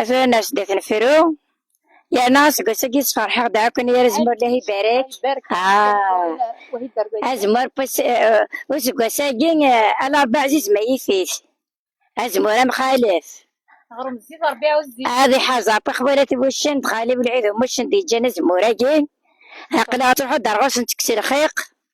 Atan ar sdat n fru. Yerna seg wass-agi sferḥeɣ d akk yir azemmur lahi barak. Azemmur useggas agi ala Rebbi ɛziz ma yif-it. Azemmur amxalef. Ad iḥaz ɣef ixwalat n wuccen d xali Wlɛid Umuccen d yeǧǧan azemmur agi. Aqlaɣ ttruḥu-d ar ɣur-sen ttekkes lxiq.